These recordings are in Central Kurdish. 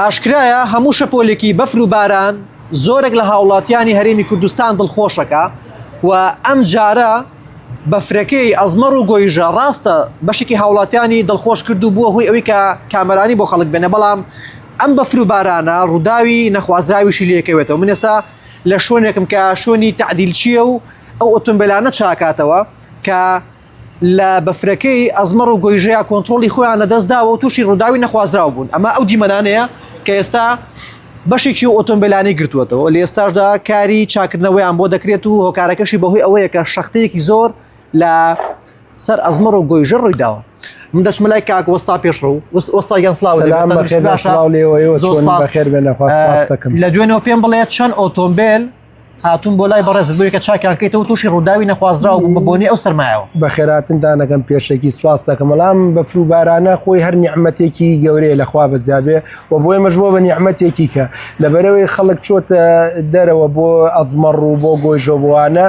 ئاشکرایە هەموو شەپۆلێکی بەفر و باران زۆرێک لە هاوڵاتیانی هەرێمی کوردستان دڵخۆشەکە و ئەم جارە بەفرەکەی ئەزمەڕ و گۆیژە ڕاستە بەشێکی هاوڵاتیانی دڵخۆش کرد و بووە هۆی ئەوی کە کامەرانی بۆ خەڵک بێنە بەڵام ئەم بەفر و بارانە ڕووداوی نەخوازراویشی لەکەوێتەوە من ێسا لە شوێنێکم کە شوێنی تعدیل چییە و ئەو ئۆتۆمبیلانە چاکاتەوە کە لە بەفرەکەی ئەزمەڕ و گۆیژەیە کۆنتترۆلی خۆیان لە دەستداوە و تووشی ڕووداوی نەخوازراو بوون ئەمە ئەو دیمەنانەیە کە ئێستا بەشێکی و ئۆتۆمبیلانی گرتووەتەوە لە ئێستاشدا کاری چاکردنەوەیان بۆ دەکرێت و هۆکارەکەشی بەهۆی ئەوەیە کە شەختەیەکی زۆر لە سەر ئەزمەڕ و گۆیژە ڕووی داوە من دەچمە لای کاک وەستا پێشڕوو وەستا گیان سلااو لە دوێنەوە پێم بڵێت چەند ئۆتۆمبیل هاتون بۆ لای بەڕێز بۆی کە چاکیان کەیتەوە تووشی ڕووداوی نەخوازراو بوو بە بۆنی ئەو سەرمایەوە بە خێراتندانەکەم پێشێکی سواز دەکەم بەڵام بە فروبارانە خۆی هەر نیعممەتێکی گەورەیە لەخوا بەزیابێ و بۆی مەژبووە بە نیعممەتێکی کە لە بەرەوەی خەڵک چۆتە دەرەوە بۆ ئەزمەڕ و بۆ گۆیژۆبووانە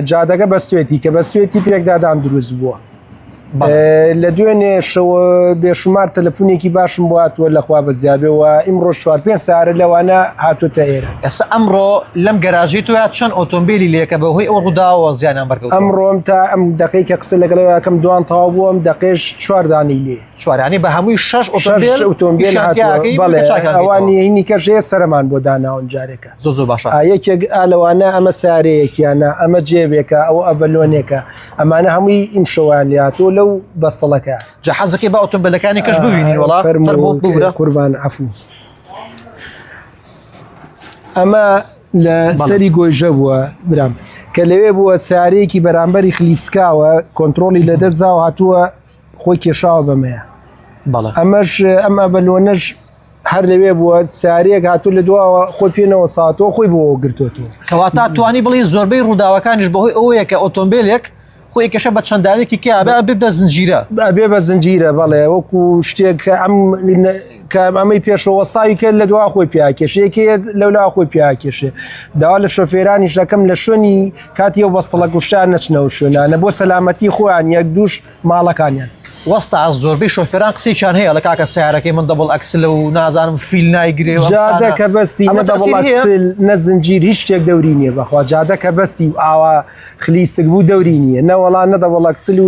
جادەکە بەستێتی کە بەستێتی پێکدادان دروست بووە. لە دوێنێ شەوە بێشمار تەلەفونێکی باشم بۆ هاتووە لەخوا بە زیابێەوە ئیمڕۆ چوار پێ سارە لەوانە هاتوتە ئێرە ئەسا ئەمڕۆ لەم گەراژی تو یا چەند ئۆتۆمبیلی لەکە بە هۆی ئەو ڕووداوە زیانیان بەرگەوە ئەمڕۆم تا ئەم دقی کە قسە لەگەڵەکەم دوان تاو بووم دەقێش چواردانی لێ سوارانی بە هەمووی شش ئۆتۆمبیلوانی کەژەیە سەرمان بۆ داناون جارێکە زۆ زۆ باشە یەکێک ئالەوانە ئەمە سارەیەکیانە ئەمە جێبێکە ئەو ئەڤلۆنێکە ئەمانە هەمووی ئیم شەوان لاتۆ لەو بەستەڵەکە جە حەزەکەی بە ئۆتۆمبیلەکانی کەش ببینی وڵا قوربان عفو ئەمە لە سەری گۆیژە بووە برام کە لەوێ بووە سارەیەکی بەرامبەری خلیسکاوە کۆنتترۆلی لەدەستدا و هاتووە خۆی کێشاوە بەمەیە بەڵێ ئەمەش ئەم ئەبەلۆنەش هەر لەوێ بووە ساریەک هاتوو لە دواوە خۆی پێنەوە ساتەوە خۆی بۆ گرتوتەوە کەواتا توانی بڵێ زۆربەی ڕووداوەکانیش بەهۆی ئەوەیە کە ئۆتۆمبیلێک خۆی کەشە بە چەنداوێکی کە بە بە زنجیرە بە بە زنجیرە بەڵێ وەکو شتێک ئەم کە ئەمەی پێشەوە وەستاوی کرد لە دوا خۆی پیاکێشێکێت لەولا خۆی پیاکێشێ داوا لە شۆفێرانیش دەکەم لە شوێنی کاتی و بەستڵە گوشتان نەچنەوە شوێنانە بۆ سەلامەتی خۆیان یەک دوش ماڵەکانیان وەستا زۆربەی شۆفێران قسەیان هەیە لە کاکە سیارەکەی من دەبڵ ئەکسلە و نازانم فیل نایگرێ جادە کە بەستی نە زنجیر هیچ شتێک دەوری نییە بەخوا جادە کە بەستی و ئاوا خلیسک بوو دەوری نییە نەوەڵا نەدەوەڵ ئەکسل و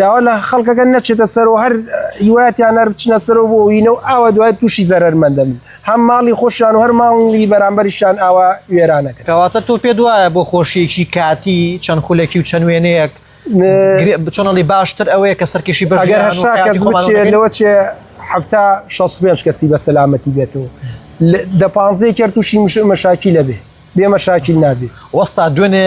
داوا لە خەڵکەکەن نەچێتە سەر و هەر هیواتیان هەر بچنە سەر و بۆ وینە و ئاوە دوای تووشی زەرمەندەن هەم ماڵی خۆشیان و هەر ماڵی بەرامبەریشان ئاوا وێرانەکە کەواتە تۆ پێ دوایە بۆ خۆشیەکی کاتی چەند خولەکی و چەند وێنەیەک بچۆنەڵی باشتر ئەوەیە کە سەرکیشی بەگەر هەشتا کەس بچێت لەوە چێ هەفتا 65 کەسی بە سەلامەتی بێتەوە دە پانزەی کرد تووشی مشاکی لەبێ بێمە شاکیل نابێ وەستا دوێنێ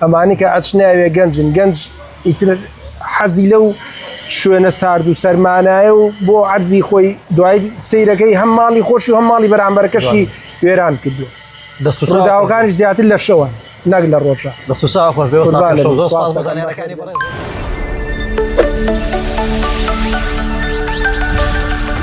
ئەمانەی کە ئەچناوێ گەنجن گەنج ئیتر حەزی لەو شوێنە سارد و سەرمانایە و بۆ عەرزی خۆی دوای سیرەکەی هەم ماڵی خۆشی و هەم ماڵی بەرامبەرەکەشی وێران کردو داوەکانی زیاتر لە شەوە نەک لە ڕۆژە لە سوسا خۆش بێ زانەکانی